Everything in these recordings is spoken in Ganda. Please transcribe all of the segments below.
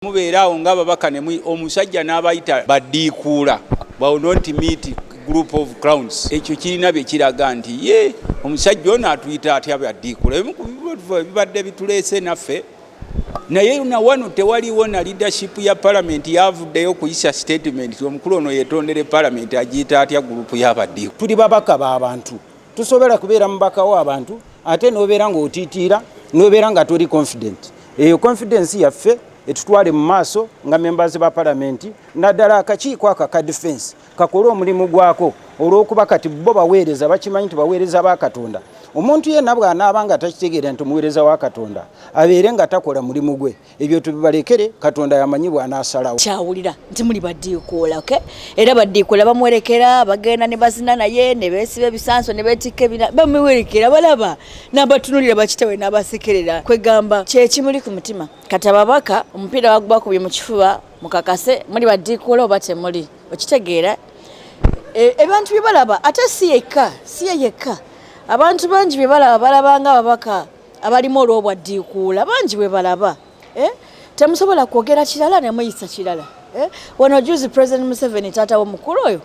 mubeera awo nga babaka ne omusajja n'abayita baddiikuula bawo not meet group of crowns ekyo kirina bye kiraga nti ye omusajja ono atuyita atya baddiikuula ebimu ku bibadde bituleese naffe naye na wano tewaliwo na leadership ya palamenti yavuddeyo kuyisa statement omukulu ono yetondere palamenti agiyita atya gurupu yabaddiiku tuli babaka ba bantu tusobera kubeera mubaka wa abantu ate nobeera nga otitiira nobeera nga toli confident eyo confidence yaffe etutwale mu maaso nga members ba palamenti naddala akakiiko ako aka defense kakole omulimu gwako olwokuba kati bo baweereza bakimanyi nti baweereza ba katonda omuntu yenna bw'anaaba nga takitegeera nti muweereza wa katonda abeere nga takola mulimu gwe ebyo tubibalekere katonda yamanyi bwanasalawo kyawulira nti muli badiikuula ok era badiikuula bamuwerekera bagenda ne bazina naye ne beesiba ebisanso ne beetikka ebina bamuwerekera balaba n'abatunulira bakitewe n'abasekerera kwegamba kyekimuli ku mutima kati ababaka omupiira bagubakubye mu kifuba mukakase muli badiikuula oba temuli okitegeera e, ebantu bye balaba ate si yekka si ye yekka abantu bangi bye balaba balabanga ababaka abalimu olwobwa ddiikuula bangi bwe balaba eh? temusobola kwogera kirala ne muyisa kirala eh? wano juzi president museveni taata womukulu oyo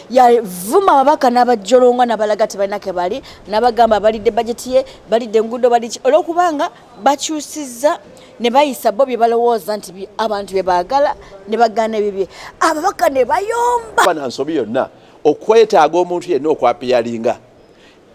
yavuma ababaka n'abajjolongwa nabalaga tebalina ke bali nabagamba balidde bajeti ye balidde enguudo baliki olwokubanga bakyusizza ne bayisa bo bye balowooza nti abantu bye baagala ne bagaana ebibye ababaka ne bayomba bana nsobi yonna okwetaaga omuntu yenna okwapiyalinga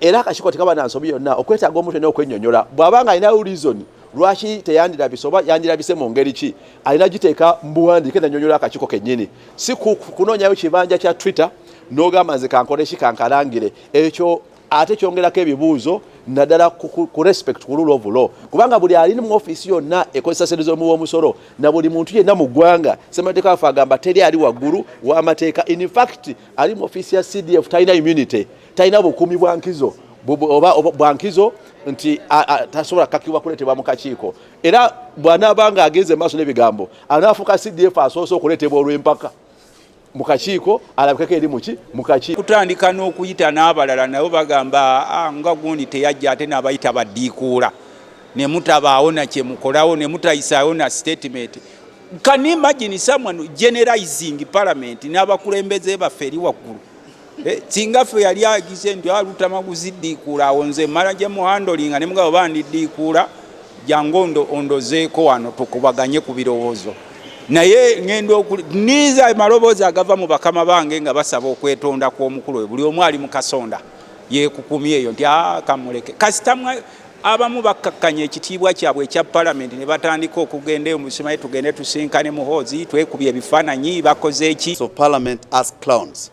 era akakiko tekaba na nsobi yonna okwetaaga omuntu ena okwenyonyola bwaba nga alinawo reason lwaki teyandirabise oba yandirabise mu ngeri ki alina giteeka mbuwandiike nanyonyola akakiko kenyini si kunoonyayo kibanja kya twitter n'ogamba nze kankole ki kankalangire ekyo ate kyongerako ebibuuzo naddala ku respect ku rule of law kubanga buli ali mu ofiisi yonna ekozesa sente z'omuwa omusolo na buli muntu yenna mu ggwanga ssemateeka waffe agamba teri ali waggulu w'amateeka in fact ali mu ofiisi ya cdf talina immunity talina bukuumi bwa nkizo oba bwa nkizo nti tasobola kakibwa kuleetebwa mu kakiiko era bw'anaaba nga agenze maaso n'ebigambo anaafuuka cdf asoose okuleetebwa olw'empaka mu kakiiko alabikeko eri muki mu kakiiko kutandika n'okuyita n'abalala nabo bagamba ah, nga gundi teyajja ate n'abayita baddiikuula ne mutabaawo nakyemukolawo ne mutayisaawo na statement can imagine someone generalizing parliament n'abakulembeze baffe eri waggulu Eh, singa ffe yali agize nti alutama ah, kuziddiikuula awo nze mala gye muhandolinga ne mugabo bandiddiikuula jangu ondozeeko wano tukubaganye ku birowoozo naye ŋenda niza amaloboozi agava mu bakama bange nga basaba okwetonda kw'omukulu oyo buli omu ali mu kasonda yekukumyeeyo nti ah, kamuleke kasita Abamu bakkakkanya ekitiibwa kyabwe ekya palamenti ne batandika okugenda eyo musimaye tugende tusinkane muhoozi twekubye ebifaananyi bakoze eki of parliament as clowns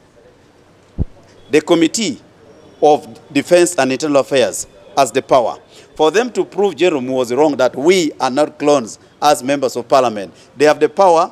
the committee of defense and internal affairs as the power for them to prove general was wrong that we are not clones as members of parliament they have the power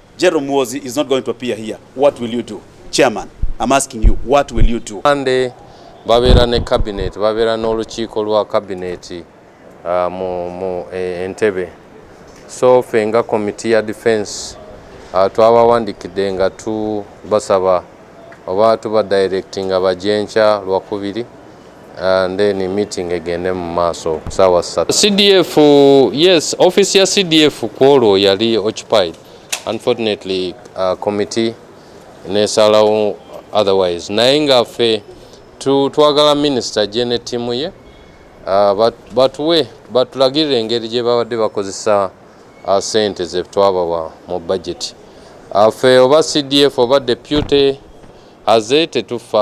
Jerome Muozi is not going to appear here. What will you do? Chairman, I'm asking you, what will you do? Monday, babeera ne cabinet, babeera n'olukiiko lwa cabinet uh, mu, mu e, Entebbe. So ffe nga committee ya defense uh, twabawandikidde nga tubasaba oba tuba directing abajenkya lwakubiri and then meeting egende mu maaso saawa ssatu. CDF yes, office ya CDF kwolwo yali occupied unfortunately uh, committee nesalawo otherwise naye nga ffe twagala minister ajje ne ttiimu ye uh, batuwe batulagirira engeri gye babadde bakozesa uh, sente ze twabawa mu budget uh, ffe oba CDF oba deputy aze tetufa